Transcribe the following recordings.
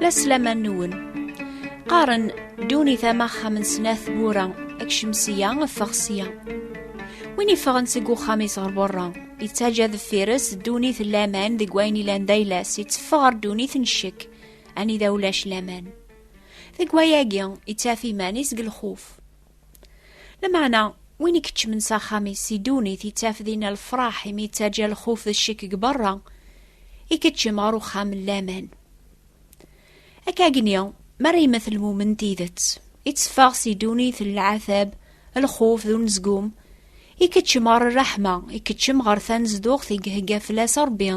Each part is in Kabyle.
La slaman-nwen. Qqaren duni tama axxam n snat wura, akcem sya, ffeɣ sya. Win iffɣen seg uxxam-is ɣer berra, yettaǧa deffir-s ddunit n laman deg wayen ilan d ayla-s, itteffeɣ ɣer ddunit n ccek, anida ulac laman. Deg wayagi, ittaf iman-is deg lxuf. Lameɛna, win i keččmen s axxam-is si ddunit yettaf dinna lefraḥ imi yettaǧa lxuf d ccek deg berra, ikeččem ɣer uxxam n laman. Akka agni, mi ara yemmet lmumen n tidet, itteffeɣ si ddunit n lɛatab, lxuf d unezgum, ikeččem ɣer rraḥma, ikeččem ɣer tanezduɣt i ihegga fell-as Rebbi,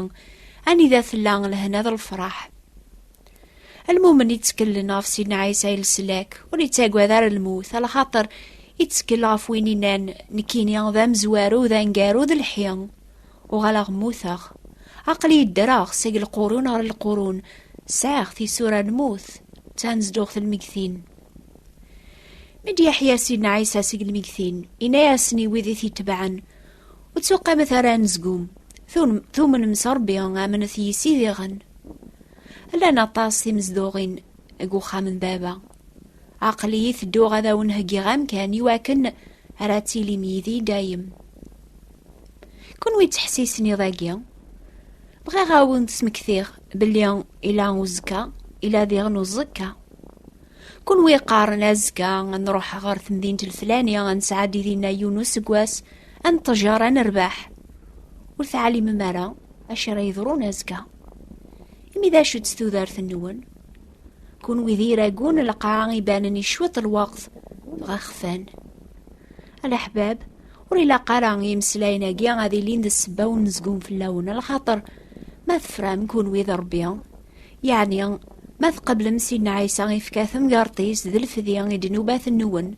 anida tella lehna d lefraḥ. Almumen itteklen ɣef Sidna Ɛisa i leslak, ur ittagad ara lmut, ala xaṭer ittkel ɣef win inan nekkini d amezwaru d angaru d lḥi. Uɣaleɣ mmuteɣ. Aql-i ddreɣ seg lqurun ɣer lqurun, sɛiɣ tisura n lmut, d tanezduɣt n lmegtin. Mi d-yeḥya Sidna Ɛisa seg lmegtin, yenna-yasen i wid i t-itebɛen, Ur ttuqqimet ara anezgum, tumnem s Ṛebbi, amenet yis-i diɣen. Llan aṭas timezduɣin deg uxxam n baba. Aql-iyi tedduɣ ad awen-heggiɣ amkan iwakken ara tilim yid-i dayem. Kunwi ttḥessisen iḍ-agi? Bɣiɣ ad awen-d-smektiɣ belli ila uzekka, ila diɣen uẓekka. Kunwi qqaren azekka ad nruḥ ɣer temdint lflani ad nesɛeddi dinna yiwen useggas, ad neṭṭejar ad nerbeḥ. Ur teɛlimem ara acu ara yeḍrun azekka. imi d acu-tt tudert-nwen kunwi d iragu n lqaɛa ibanen i cwiṭ lweqt dɣa xfan alaḥbab ur ilaq ara imeslayen-agi ad ilin d ssebba ur nezgum fell-awen lxaṭer ma tefram kunwi d rebbi yeɛni ma tqeblem sidna ɛisa ifka temgerṭ-is d lfedi i d-nubat-nwen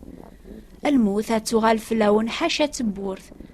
lmut ad tuɣal fell-awen ḥaca tewwurt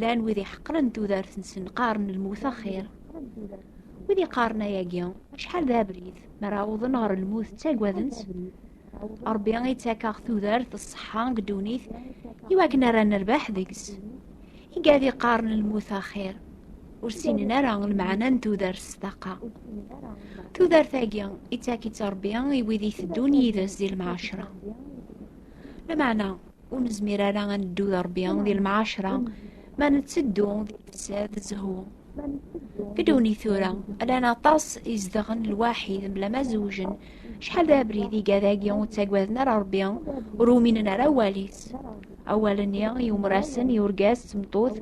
llan wid iḥeqren tudert-nsen qqaren lmut axir wid iqqaren ayagi acḥal d abrid mi ara awḍen ɣer lmut ttagaden-tt rebbi ittakeɣ tudert ṣṣeḥḥa deg ddunit iwakken ara nerbeḥ deg-s igad iqqaren lmut axir ur ssinen ara lmeɛna n tudert s ṭaqa tudert-agi ittak-itt rebbi i wid iteddun yid-s di lmeɛcra lameɛna ur nezmir ara ad neddu d Ṛebbi di lemɛaceṛa ma netteddu di lfesad d zzhu. Fi ddunit tura, llan aṭas izedɣen lwaḥid mebla ma zewjen, acḥal d abrid iga dagi ur ttaggaden ara Ṛebbi, ur uminen ara awal-is. Awal-nni yumer-asen i urgaz d tmeṭṭut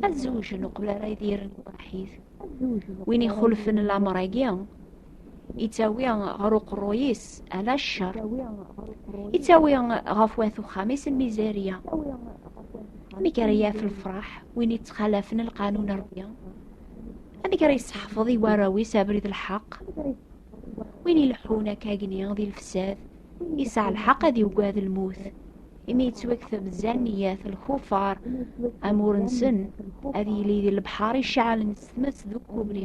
ad zewjen uqbel ara idiren lwaḥid. Win ixulfen lameṛ-agi, Yettawi ɣer uqerruy-is ala ccer. Yettawi ɣef wat uxxam-is lmizarya. Amek ara yaf lefraḥ win yettxalafen lqanun Rebbi? Amek ara yesseḥfeḍ i warraw-is abrid lḥeq? Win ileḥḥun akka agni di lefsad, yesɛa lḥeq ad yugad lmut. Imi yettwakteb zanniyat lkufar, amur-nsen ad yili di lebḥer iceɛlen s tmes d ukubri.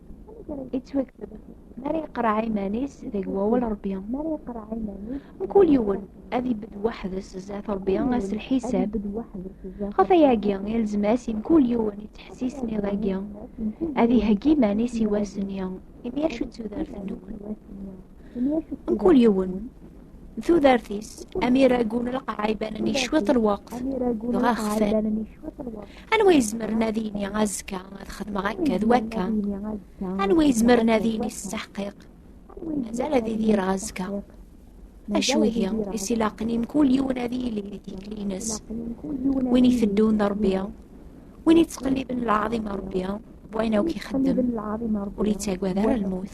ittweg mara yeqreɛ iman-is deg wawal rebbi mkul yiwen ad ibedd weḥd-s zdat rebbi ass lḥisab ɣef ayagi ilzem-as i mkul yiwen ittḥessis niḍagi ad iheggi iman-is i wass-nni imi acu d tudert-nwen Mkul yiwen, tudert-is, amir agun lqaɛa ibanen i cwiṭ lweqt, dɣa xfan. Anwa izemren ad yini azekka ad xedmeɣ akka d wakka? Anwa izemren ad yini s teḥqiq? Mazal ad idireɣ azekka. Acu ihi, i s-ilaqen i mkul yiwen ad yili di tikli-ines. Win iteddun d Rebbi, win ittqelliben lɛaḍima Rebbi, wayen akk ixeddem, ur ittagad ara lmut.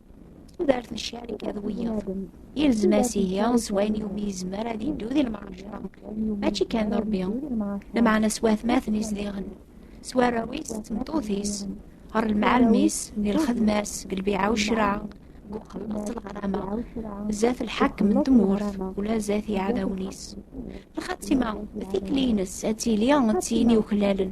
tudert n ccarika d wiyaḍ yelzem-as ihi s wayen yumi yezmer ad yeddu di lemɛaca mačči kan d rebbi lmeɛna s watmaten izdiɣen s warraw-is d tmeṭṭut-is ɣer lemɛalem-is di lxedma-s deg lbiɛa u ccreɛ deg uxelleṣ d leqrama zdat lḥakem n tmurt ula zdat yiɛdawen-is lxatima tikli-ines ad tili d tin yuklalen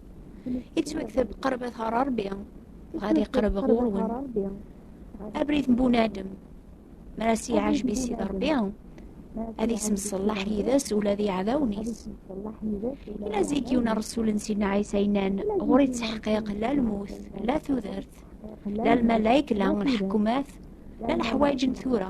yettwakteb qerbat ɣer Ṛebbi dɣa ad iqerreb ɣur-wen abrid n bunadem mi ara s-yeɛjeb i Sidi Ṛebbi ad yessemṣellaḥ yid-s ula d iɛdawen-is ila zik yiwen ṛsul n Sidna Ɛisa yennan ɣur yettḥeqiq la lmut la tudert la lmalayek la lḥekumat la leḥwayeǧ n tura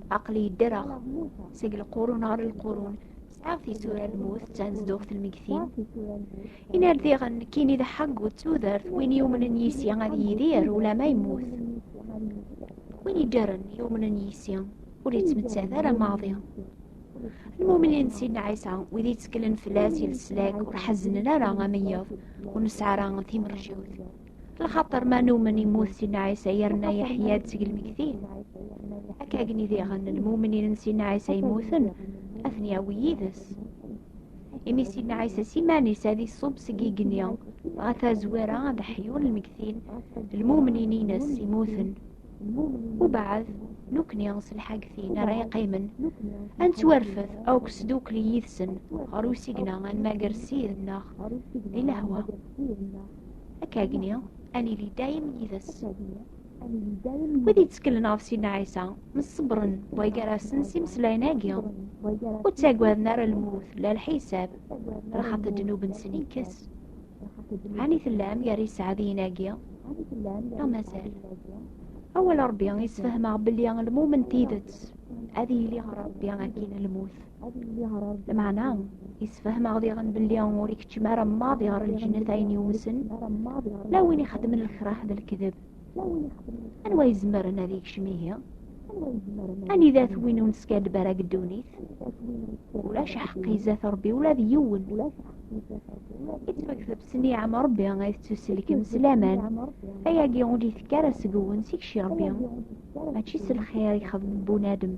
Aql-i ddreɣ seg lqurun ɣer lqurun, sɛiɣ tisura n lmut d tanezduɣt n lmegtin. Inardiɣen nekkini d ḥaggu d tudert, win yumnen yis-i ad yidir ulama yemmut. Win iddren yumnen yis-i ur yettmettat ara maḍi. Lmumnin n Sidna Ɛisa, wid yetteklen fell-as i leslak ur ḥezznen ara amenyeḍ, ur nesɛi ara timerjiwt. lxaṭer ma numen immut si nɛisa yerna yeḥya-d seg lmegtin akka agni diɣen lmumnin n si nɛisa yemmuten ad ten-yawi yid-s imi si nɛisa s iman-is ad iṣub seg igenni ɣef azwir-a ad ḥyun lmegtin lmumnin-ines immuten ubeɛd nukni s lḥagtin ara yeqqimen ad nettwarfed akk sdukli yid-sen ɣer usigna ad nmager ssid-nneɣ di lehwa Akkagni, ad nili dayem yid-s. Wid yetteklen ɣef Sidna Ɛisa, mṣebbren way gar-asen s imeslayen-agi, ur ttagaden ara lmut, la lḥisab, lxaṭi ddnub-nsen ikkes. Ɛni tellam gar yiseɛdiyen-agi? Neɣ mazal? Awal Rebbi yessefhem-aɣ belli lmumen tidet ad yili ɣer Rebbi akkin lmut. Lmeɛna, isfehmeɣ diɣen belli ur ikeččem ara maḍi ɣer lǧennet ayen yumsen, la win ixeddmen lkrah d lekdeb. Anwa izemren ad ikcem ihi? Anida-t win ur neskaddeb ara deg ddunit? Ulac aḥeqqi izat Rebbi ula d yiwen. Ittfakdeb s niɛam Rebbi ay tettuselkem s laman. Ayagi ur d-itekk ara seg-wen, seg-k Rebbi. mačči s lxir ixeddem bunadem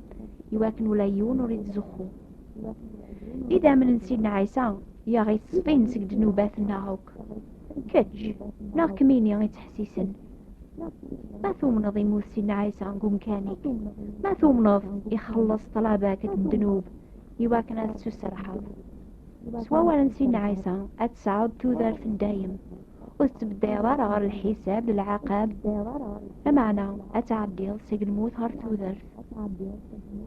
iwakken ula yiwen ur ittzuxxu idammen n sidna ɛisa yaɣ ittṣfin seg ddnubat-nneɣ akk kečč neɣ kemini ittḥessisen ma tumneḍ imut sidna ɛisa deg umkan-ik ma tumneḍ ixelleṣ ṭṭlaba-k n ddnub iwakken ad tessuserḥeḍ s wawal n sidna ɛisa ad tesɛuḍ tudert n dayem ur tettbeddiɛeḍ ara ɣer lḥisab d lɛaqab lameɛna ad tɛeddiḍ seg lmut ɣer tudert d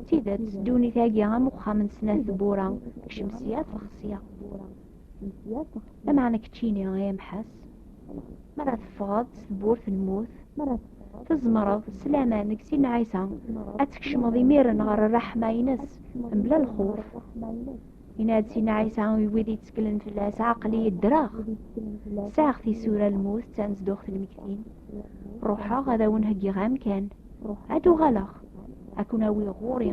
tidet ddunit-agi am uxxam n snat tewwura kcem sya ffeɣ sya lameɛna keččini ay amḥas mi ara teffɣeḍ s tewwurt n lmut tzemreḍ s laman deg sin ɛisa ad tkecmeḍ imiren ɣer rraḥma-ines mebla lxuf Yenna-d Sina Ɛisa i wid yetteklen fell-as, Aql-i ddreɣ, sɛiɣ tisura lmut d tanezduɣt n lmektin. Ruḥeɣ ad awen-heggiɣ amkan, ad uɣaleɣ, ad kun-awiɣ ɣur-i,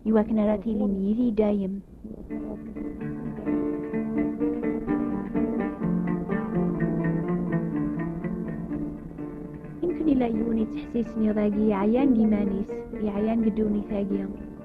i wakken ara tilim yid-i dayem. Yemkin yella yiwen yettḥessisen iḍ-agi yeɛyan deg iman-is, yeɛyan deg ddunit-agi.